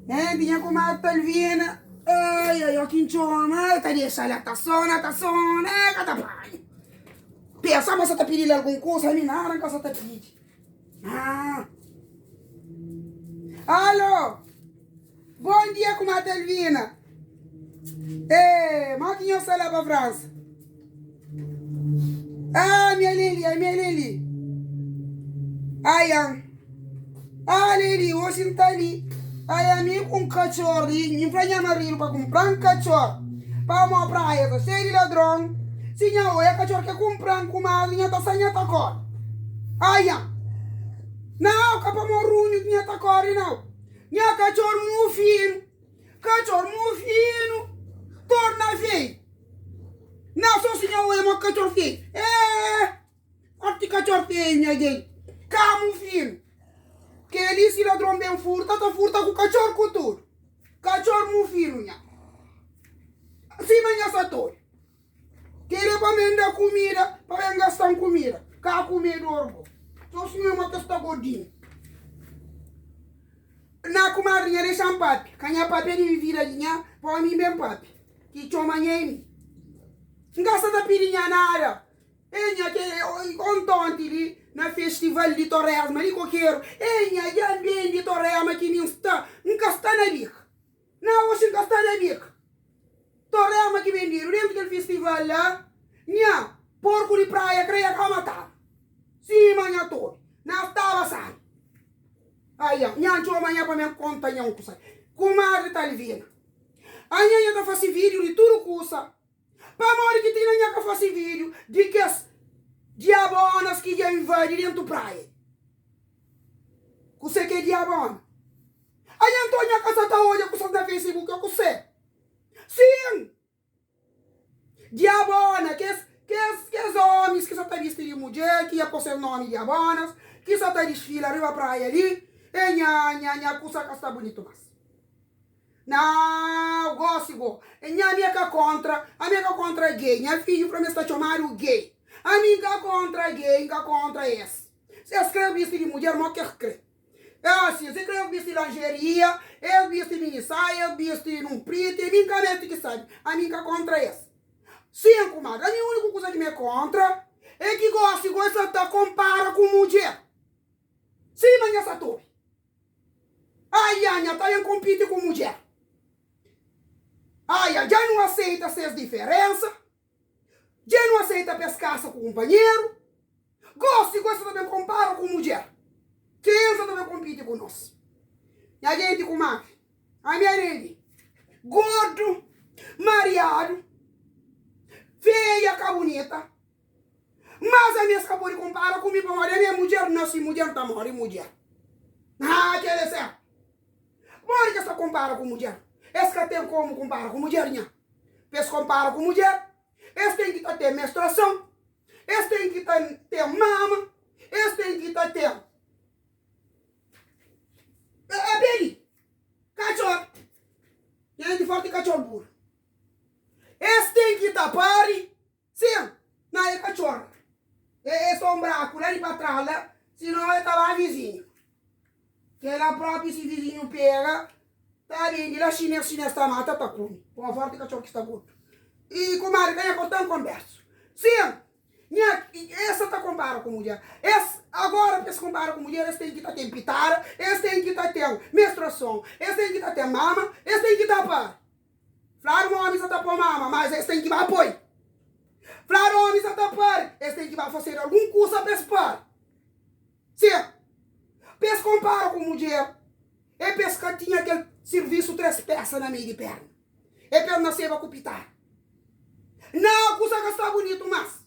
Hende nha kumadri Talvina Ai, ai, ó ki N txoma Ai, ta dexa-l el ta sona, ta sona El ka ta panha Pensa ma sa ta pidi-l algun kusa Ami nada N ka sa ta pidi Aaaa Alô! Bom dia kumadre Alvina eh mau ki nhos sta la pa França ah ami além li ami além li ayan ah além li oxi N ta li ai ami ku un katxor li N fla nha marido pa kunpran katxor pamo praia ta xei di ladron si nha oia katxor ke kunpran kumadre nha ta sai nha ta kori ayan nau ka pamo runhu nha ta kori nau. Nha katxor muu finu, katxor muu finu torna feio Nha sosi nha oia mo katxor feio eeh Forti katxor feio nha gei ka muu finu Keli si ladron ben furta ta furta ku katxor ku tudu Katxor muu finu nha sima nha satori. Kere pa ben da kumida, pa ben gastan kumida. Ka kume dor bo. So suma e mo ta sta godinhu. Na kumadri nha dexan pape. Ka nha pape di mi vida di nha, pa omi ben pape. Ki txoma nha e mi. N ka sta ta pidi nha nada. E nha ke ontonti li na festival di Torresma li kokeru. E nha djan ben di Torrema ki mi N sta. N ka sta na bika. Na Washington, Stadu Amerika, torrema ki bendedu dentu kel fistival la, nha porku di praia krea ka matadu. Sima nha tobi, na staba sai. Ai nha, nha ntxoma nha pa men konta nha un kusa. Kumadri ta alivina. Anha nha ta fasi vidiu di tudu kusa. Pamodi ki ti inda nha ka fase video di kes diabonas ki dja invadi dentu praia? Kuse ke diabona? A nha nton nha ka sa ta odja kusas na facebook o kuse? Sin! Diabona, kes kes kes omis ki sa ta bisti di mudjer ki nha po ses nomi diabonas ki sa ta disfila riba praia li, e nha nha nha kusa ka sta bunitu mas. Nau gosi bo é nha ami é ka kontra ami é ka kontra gay nha fidju fla ma es ta txomadu gay ami nka kontra gay nka kontra es si es kre bisti di mudjer mo kes kre é asi es kre bisti lanjeria es bisti mini saia es bisti nun priti ami nka meti ki sabi ami nka kontra es sin kumadri ami uniku kuza ki ma é kontra é ki gosi goi sa ta konpara ku mudjer sima nha satobi. Ai ya nha ta ben konpiti ku mudjer Ai ya dja nu aseita ses diferensa Dja nu aseita pa es kasa ku kunpanheru Gosi gosi ta ben konpara ku mudjer Ken sa ta ben konpiti ku nos Nha jenti kumabi Ami Aneli Gordu Mariadu Feia ka bunita Mas ami es ka pode konpara ku mi, pamodi ami é mudjer, nase mudjer, ta móre mudjer. Haa, kel é sértu. Pamodi ki es ta konpara ku mudjer? Es ka ten komu konpara ku mudjer, nha. Pa es konpara ku mudjer, es ten ki ta ten menstruason, es ten ki ta ten mama, es ten ki ta ten. É bem li. Katxor nhende forti, katxor buru. Es ten ki ta pari. Sim. Má el ka txora. El é sô un braku la di pa trás la, sinô el ta ba vizinhu. Kela própi si vizinhu pega, ta ben di la xinês xinês ta mata, ta kume. Koma fórti katxor ki sta gordu. I kumadri ka nha korta un konbérsu. Sim. Nha, es sa ta konpara ku mudjer. Es, agora pa es konpara ku mudjer es ten ki ta ten pitada, es ten ki ta ten menstruason, es ten ki ta ten mama, es ten ki ta pari. Flar omi sa ta poi mama mas es ten ki ba poi Flar omi sa ta pari es ten ki ba fasedu algun kusa pa es pari se Pa es konpara ku mudjer e pa es ka tinha kel sirvisu tres pesa na mei di perna e pa es na seba ku pitadu Na kusa ka sta bunitu mas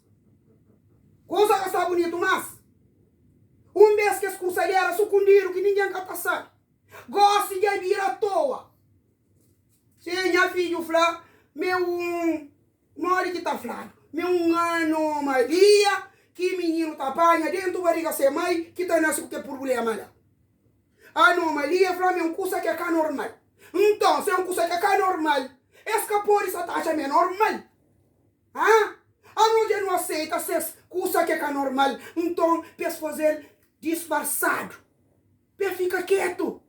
Kusa ka sta bunitu mas Un bes kes kusa li era sukundidu ki ningen ka ta sabi Gosi dja bira toa. Se nha fidju fla, ma é un. Modi ki ta fladu ma é un anu ô mai dia ki mininu ta panha déntu bariga se mai ki ta nase ku kel purbléma la? Anomalia fla ma é un kusa ki é ka normal. Nton, si é un kusa ki é ka normal, es ka pode sa ta atxa ma é normal? Hã? Anos dja nu aseita ses kusa ki é ka normal, nton pa es faze-l disfarsadu, pa el fika kétu.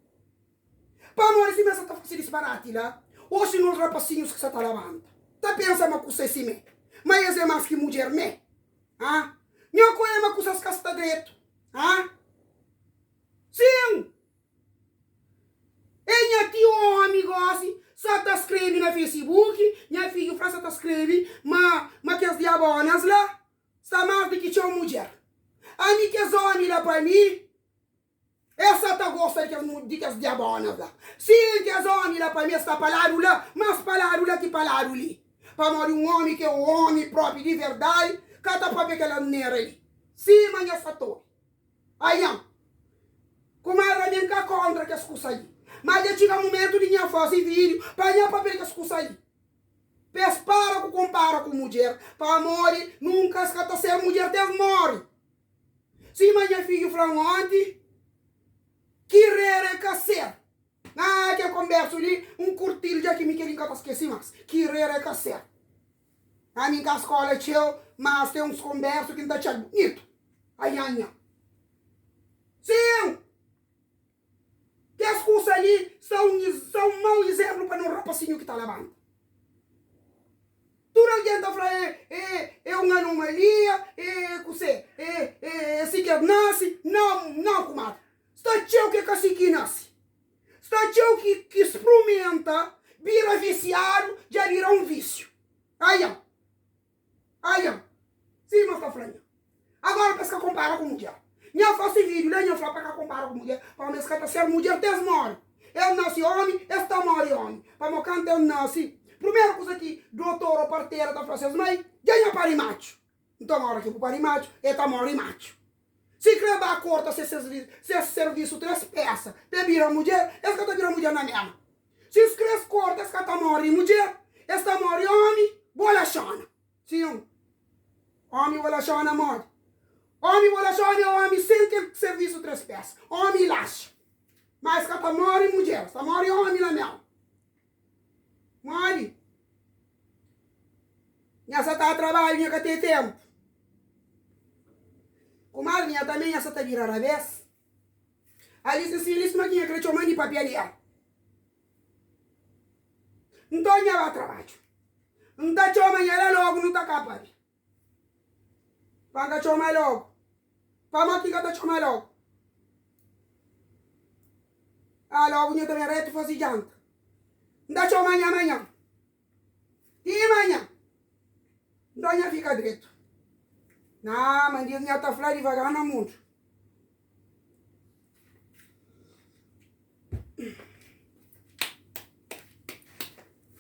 Pamodi si mé sa ta fase disparati la, o si nos rapasinhus ki sa ta labanta ta pensa ma kusa é si mé, ma es é más ki mudjer mé? Ah, Nho kue ma kusas ka sta dretu, ah? Sin, e nha ti omi gosi sa ta skrebe na facebook, nha fidju fla sa ta skrebe ma ma kes diabonas la sta más di ki txeu mudjer. Ami kes omi la pa mi. El sa ta gosta di kes diabónas la. Sin, kes ómi la pa mi es ta pa ladu la, más pa ladu la ki pa ladu li. Pamodi un ómi ki é ómi própi di verdadi ka ta pâpia kel asnera li. Sima nha satori. Ayan. Kumadra mi, N ka kóntra kes kusa li. Má dja txiga mumentu di nha faze vídiu pa nha pâpia di kes kusa li. Pa es para ku konpara ku mudjer, pamodi nunka es ka ta ser mudjer ti es móre. Sima nha fidju fla-m onti, ki rera é kaser. Haa kel konbersu li N kurti-l dja ki mi kel-li N ka ta skese más Ki rera é kaser. Haa mi N ka skola txeu Mas ten uns konbersu ki N ta atxa-l bunitu Ayanha Sim! Kes kusa li sta un sta un mau izénplu pa nos rapasinhu ki ta labanta. Tudu algen ta fla, E, e, e un anomalia, e, e kusé, e, e, e si ki es nase. Nau, nau, kumadri. Sta txeu ki é ka si ki nase. Sta txeu ki ki sprumenta bira visiadu, dja bira un vísiu. Ayan! Haa nha. Sim ma sta fla nha. Agora pa es ka konpara ku mudjer. Nha fla si video la nha fla pa ka konpara ku mudjer pamo es ka ta ser mudjer ti es mori. Es nasi omi es ta mori omi. Pamo kanta es nasi prumeru kusa ki dotor o partera ta fla ses mai dja nha pari matxu. Nton ora ki bu pari matxu e ta mori matxu. Si kre ba korta ses servisu tres pesa pe bira mudjer, es ka ta bira mudjer na mema. Si es kre korta es ka ta mori mudjer, es ta mori omi bo laxona. Sin, omi bo laxona modi. Omi bo laxona e omi sen kel servisu tres pesa. Omi laxa, ma es ka ta mori mudjer, es ta mori omi na mema. Modi? Nha sa ta trabadju, nha ka ten tenpu. Kumadri, nha tanbe nha sa ta bira rabes. Alis di sinhali suma ki nha kre txoman di papiaria. Nton nha ba trabadju. N ta txoma nha la logu nu ta kapabe. Pa N ka txoma el lógu. Pa má ki ka ta txoma el lógu. Aa lógu nha ta ben rétu faze janta. N ta txoma nha manhan. Ti manhan. Nton nha fika dretu. Naa ma N diz nha ta fla divagar na mundu.